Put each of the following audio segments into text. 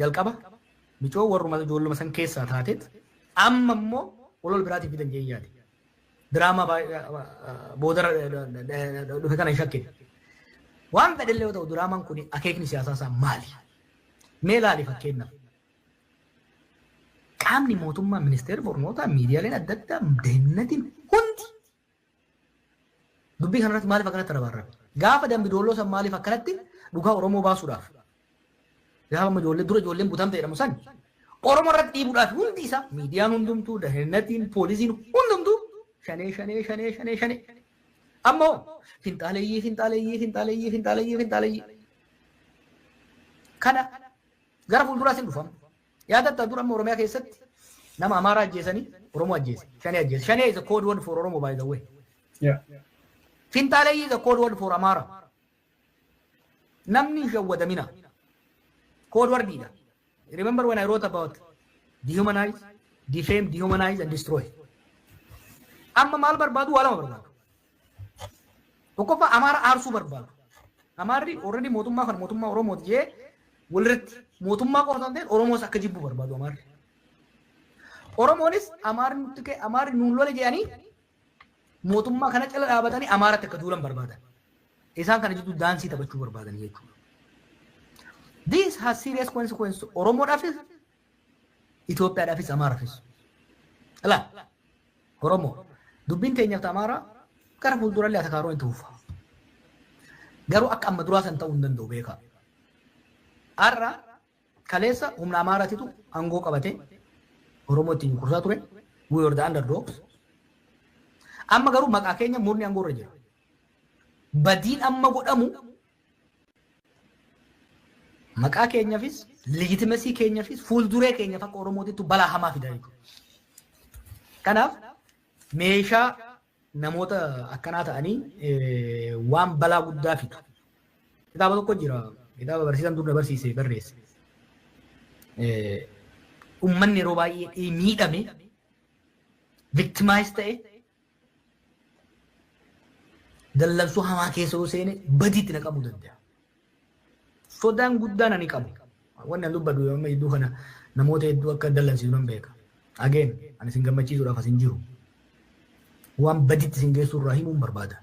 Jalqaba micoo warruma ijoolluma san keessaa taateet amma immoo walool biraatii fidan jeen yaade. Diraamaa boodarra dhufe kana hin shakkine. Waan fedhellee yoo ta'u diraamaan kun akeekni siyaasaa isaa maali? Mee ilaali fakkeenyaaf. Qaamni mootummaa ministeerri barnootaa miidiyaaleen adda addaa deennatiin hundi Dubbii kanarratti maaliif akkanatti rabaarrabe? Gaafa Dambi Doolloo san maaliif akkanatti dhugaa Oromoo baasuudhaaf? Gaafa amma ijoollee dura ijoolleen butamte jedhamu san Oromoo irratti dhiibuudhaaf hundi isaa miidiyaan hundumtuu, dahinnatiin, poolisiin hundumtuu shanee shanee shanee shanee shanee. Amma hoo finxaaleyyii finxaaleyyii finxaaleyyii finxaaleyyii finxaaleyyii. Kana gara fuulduraas hin dhufama. Yaadattaa dur amma Oromiyaa keessatti nama Amaaraa ajjeesanii Oromoo ajjeese. Shanee ajjeese. Shanee is a code word for Oromo by the way. Yeah. Finxaaleyyii is a code word for Amaara. Namni hin shawwadamina. Code wordidha. Remember when I wrote about dehumanize, defame, dehumanize and destroy. Amma maal barbaadu waa lama barbaadu. Tokkoffaa Amaara aarsuu barbaadu. Amaarri already mootummaa kan mootummaa Oromooti jee walirratti mootummaa qofa osoo hin ta'in Oromoos akka jibbu barbaadu Amaarri. Oromoonis Amaarri nutti ka'e Amaarri nuun lole jedhanii mootummaa kana cala dhaabatanii Amaaratti akka duulan barbaadan. Isaan kana jidduu daansii taphachuu barbaadan jechuudha. This has serious consequences Oromoodhaafis Itoophiyaadhaafis Amaarafis. Ilaa Oromoo dubbiin teenyaaf ta Amaaraa gara fuuldurallee atakaaroon itti fufa. Garuu akka amma duraa san ta'uu hin danda'u beekaa. Har'a kaleessa humna Amaaraatitu aangoo qabatee Oromoo ittiin cunqursaa ture. We were the underdogs. Amma garuu maqaa keenya murni aangoo irra jira. Badiin amma godhamu Maqaa keenyafis, legitimesii keenyafis, fuulduree keenyaf akka Oromootittu balaa hamaa fida jechuudha. Kanaaf meeshaa namoota akkanaa ta'anii waan balaa guddaa fidu. Kitaaba tokko jira. Kitaaba barsiisaan dur na barsiise barreesse. Uummanni yeroo baay'ee miidhame victimize ta'e Dallansuu hamaa keessa yoo seene badiitti na qabuu danda'a. Sodaan guddaan ani qabu. Wanni an dubbadhu amma hedduu kana namoota hedduu akka dallansiisu nan beeka. Ageen ani isin gammachiisuudhaaf asin jiru. Waan badiitti isin geessuu irraa himuun barbaada.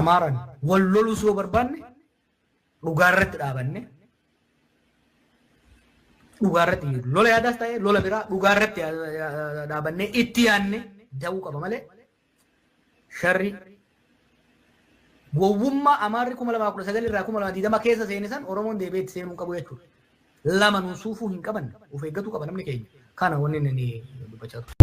Amaaran wal loluu yoo barbaanne dhugaarratti dhaabanne dhugaarratti lola yaadaas ta'e lola biraa dhugaarratti dhaabanne itti yaanne da'uu qaba malee sharri gowwummaa amaarri kuma lamaa kudha sagal irraa kuma lamaa digdama keessa seene san oromoon deebi'ee itti seenuu hin qabu jechuudha. Lama nuun suufuu hin qaban of eeggatu qaba namni keenya kana wanni inni dubbachaa ture.